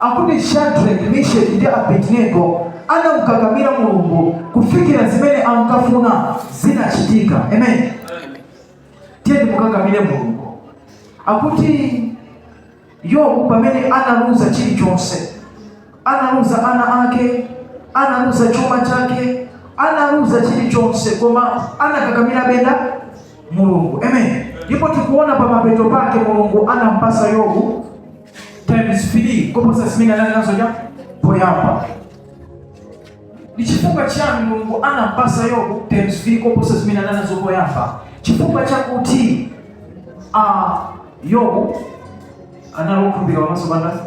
Akuti Shadrack, Misheck ndi Abednego anamkakamira Mulungu kufikira zimene ankafuna zinachitika. Amen. Tiyeni timukakamire Mulungu. Akuti Yobu pamene analuza chilichonse, analuza ana ake, analuza chuma chake, analuza chilichonse, koma anakakamirabe nda Mulungu. Amen. Ndipo tikuona pa mapeto pake Mulungu anampasa Yobu times 3 koposa zimene anali nazo cha poyamba ndi chifukwa chiyani mulungu anampasa yobu times 3 koposa zimene anali nazo poyamba chifukwa chakuti ah, yobu anali okhulupirika pamaso pa ndani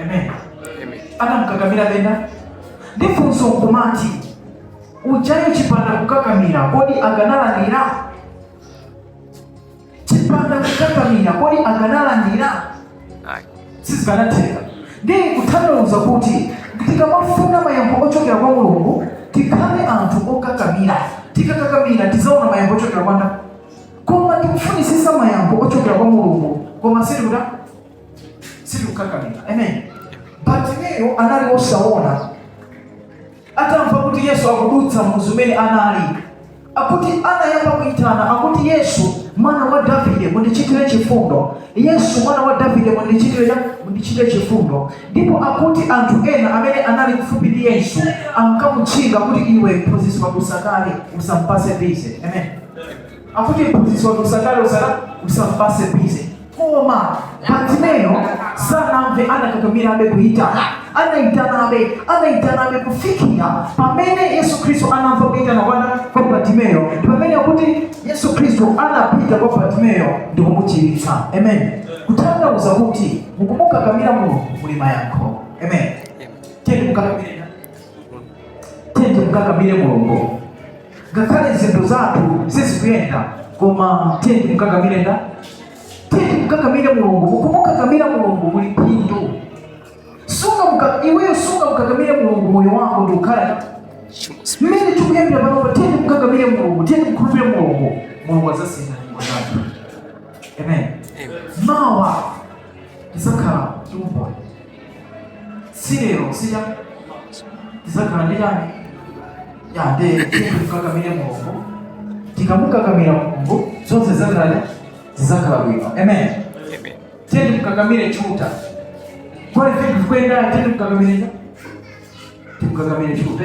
amen anamkakamirabe nda ndi funso nkumati ujayo chipanda kukakamira kodi akanalandira chipanda kukakamira kodi akanalandira ayi sizikanatheka ndiye kutanthauza kuti tikamafuna mayankho ochokera kwa mulungu tikhale anthu okakamira tikakakamira tizaona mayankho ochokera kwa ndani koma tikufunisisa mayankho ochokera kwa mulungu koma sitikuta sitikukakamira amen batimeyo anali osaona atamva kuti yesu akudutsa mmudzi umene anali akuti anayamba kuitana akuti yesu mwana wa davide mundichitire chifundo yesu mwana wa davide mundichitire cha- mundichitire chifundo ndipo akuti anthu ena amene anali kufupi ndi yesu ankamutchinga kuti iwe mphunzitsi wakusakale usampase busy amen akuti mphunzitsi wanu usakalosa usampase busy koma batimeyo sanamve anakakamirabe kuitana anaitanabe anaitanabe kufikira pamene yesu khristu anamva kuitana kwa nda kwa batimeyo pamene akuti yesu khristu anapita kwa batimeyo ndikumuchiritsa amen kutanthauza kuti mukumukakamira mulungu muli mayankho amen tiyeni timukakamire mulungu ngakhale zinthu zathu sizikuyenda koma tiyeni timkakamire nda tiyeni timkakamire mulungu mukumukakamira mulungu muli phindu sungamka- iweyo sungamkakamire mulungu moyo wako ndikukhala mmene tikuyambira panopa tiyeni timkakamire mulungu tiyeni timkhulupirire mulungu mulungu azasintha nyimbo zathu amen mawa tizakhala ndi umboni si lero siya tizakhala ndi chani tiyeni timkakamire mulungu tikamukakamira mulungu zonse zakhala zizakhala bwino amen tiyeni timkakamire chiuta kwali vinthu vikuyendana tiyeni timkakamire timkakamire chiuta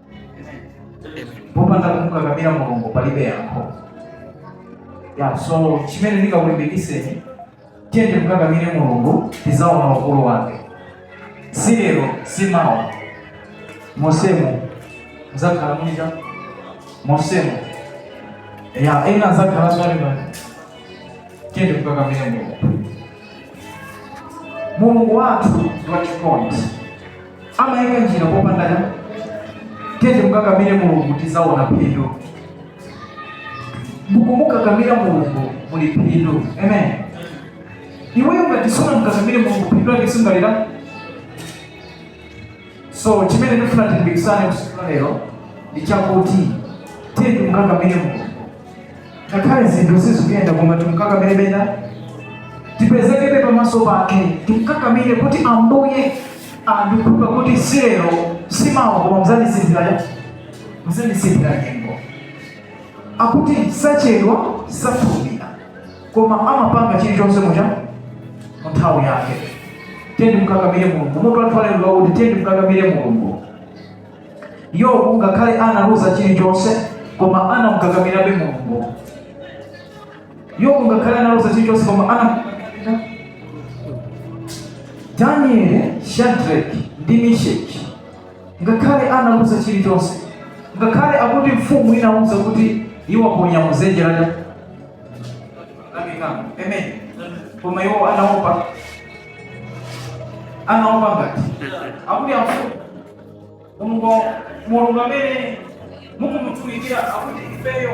popanda kumukakamira mulungu palibe yankho so chimene ndikakulimbikiseni tiyeni timukakamire mulungu tizaona ukulu wake si lero si mawa mosemu muzakhala muliza mosemu ena azakhala zolima tiyeni timukakamire mulungu mulungu wathu ndi wachikondi amayika njira popanda njira tiyeni timukakamire mulungu tizaona phindu mukumukakamira mulungu muli phindu amen iweyo ngati sunamukakamire mulungu phindu lake sungalione so chimene ndifuna tilimbikisane tsiku lalero ndi chakuti tiyeni timukakamire mulungu ngakhale zinthu sizikuyenda koma timkakamirebe tipezekebe pamaso pake timkakamire kuti ambuye ndikukhumba kuti si lero si mawa koma muzandisinthira muzandisinthira nyengo akuti sachedwa safulumira koma amapanga chilichonse mucha mu nthawi yake tiyeni timkakamire mulungu mutu wathu walero wakuti tiyeni timkakamire mulungu Yobu ngakhale analuza chilichonse koma anamkakamirabe Mulungu. Yobu ngakhale analuza chilichonse koma ana Daniel, Shadrach ndi Meshach ngakhale analuza chilichonse ngakhale akuti mfumu inauza kuti iwaponya mudzenje laja lamikango amen koma iwo anaopa anaopa ngati akuti amfumu mulungu mulungu amene mukumutumikira akuti ifeyo